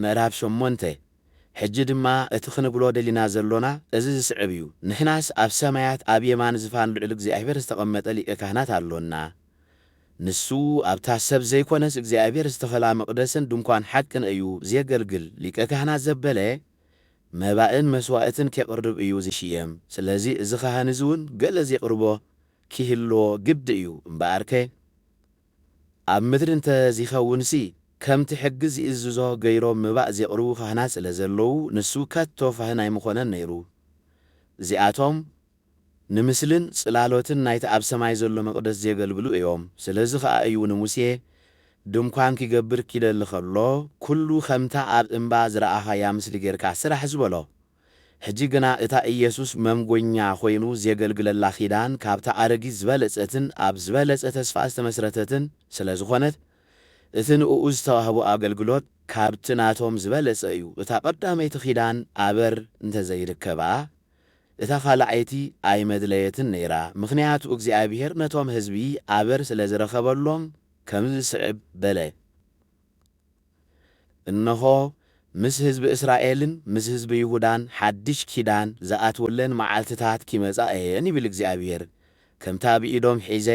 ምዕራፍ ሸሞንተ፣ ሕጂ ድማ እቲ ኽንብሎ ደሊና ዘሎና እዚ ዚስዕብ እዩ፣ ንሕናስ ኣብ ሰማያት ኣብ የማን ዝፋን ልዑል እግዚኣብሄር ዝተቐመጠ ሊቀ ካህናት ኣሎና፣ ንሱ ኣብታ ሰብ ዘይኰነስ እግዚኣብሄር ዝተኸላ መቕደስን ድንኳን ሓቅን እዩ ዜገልግል፣ ሊቀ ካህናት ዘበለ መባእን መስዋእትን ኬቕርብ እዩ ዚሽየም፣ ስለዚ እዚ ኻህን እዚ እውን ገለ ዜቕርቦ ኪህልዎ ግዲ እዩ፣ እምበኣርከ፣ ኣብ ምድሪ እንተ ዚኸውንሲ፣ ከምቲ ሕጊ ዚእዝዞ ገይሮም መባእ ዜቕርቡ ኻህናት ስለ ዘለዉ፣ ንሱ ከቶ ኻህን ኣይምዀነን ነይሩ። እዚኣቶም ንምስልን ጽላሎትን ናይቲ ኣብ ሰማይ ዘሎ መቕደስ ዜገልግሉ እዮም። ስለዚ ኸኣ እዩ ንሙሴ፣ ድንኳን ኪገብር ኪደሊ ኸሎ፣ ኵሉ ኸምታ ኣብ እምባ ዝረኣኻያ ምስሊ ጌርካ ስራሕ ዝበሎ። ሕጂ ግና እታ ኢየሱስ መምጐኛ ዀይኑ ዜገልግለላ ኺዳን ካብታ ኣረጊት ዝበለጸትን ኣብ ዝበለጸ ተስፋ ዝተመስረተትን ስለ ዝዀነት፣ እቲ ንእኡ ዝተዋህቦ ኣገልግሎት ካብቲ ናቶም ዝበለጸ እዩ። እታ ቐዳመይቲ ኺዳን ኣበር እንተ ዘይርከባ፣ እታ ኻልኣይቲ ኣይመድለየትን ነይራ፣ ምኽንያቱ እግዚኣብሄር ነቶም ህዝቢ ኣበር ስለ ዝረኸበሎም ከምዚ ዚስዕብ በለ፣ እንሆ፣ ምስ ህዝቢ እስራኤልን ምስ ህዝቢ ይሁዳን ሓድሽ ኪዳን ዝኣትወለን መዓልትታት ኪመጻ እየን ይብል እግዚኣብሄር፣ ከምታ ብኢዶም ሒዘ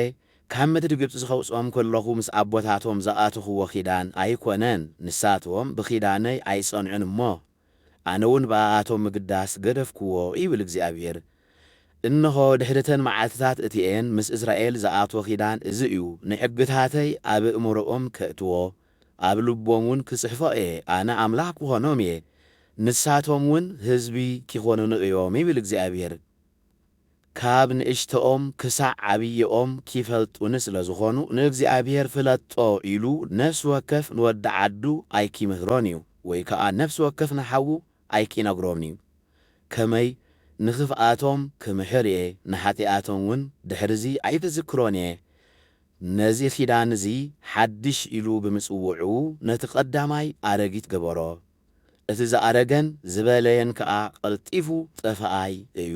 ካብ ምድሪ ግብጺ ኸውጽኦም ከለኹ ምስ ኣቦታቶም ዝኣቶኽዎ ኺዳን ኣይኰነን፣ ንሳቶም ብኺዳነይ ኣይጸንዑን እሞ፣ ኣነውን ብኣኣቶም ምግዳስ ገደፍክዎ፣ ይብል እግዚኣብሄር። እንሆ፣ ድሕሪ እተን መዓልትታት እቲኤን ምስ እስራኤል ዝኣትዎ ኪዳን እዚ እዩ፣ ንሕግታተይ ኣብ እእምሮኦም ከእትዎ፣ ኣብ ልቦምውን ክጽሕፎ እየ፣ ኣነ ኣምላኽ ክኾኖም እየ፣ ንሳቶምውን ህዝቢ ኪኾኑኒ እዮም፣ ይብል እግዚኣብሄር። ካብ ንእሽቶኦም ክሳዕ ዓብዪኦም ኪፈልጡኒ ስለ ዝዀኑ፣ ንእግዚኣብሄር ፍለጦ ኢሉ ነፍሲ ወከፍ ንወዲ ዓዱ ኣይኪምህሮን እዩ፣ ወይ ከኣ ነፍሲ ወከፍ ንሓዉ ኣይኪነግሮን እዩ፣ ከመይ ንኽፍኣቶም ክምሕር እየ፣ ንሓጢኣቶምውን ድሕርዚ ኣይክዝክሮን እየ። ነዚ ኺዳን እዚ ሓድሽ ኢሉ ብምጽውዑ፣ ነቲ ቐዳማይ ኣረጊት ገበሮ፣ እቲ ዝኣረገን ዝበለየን ከኣ ቐልጢፉ ጠፍኣይ እዩ።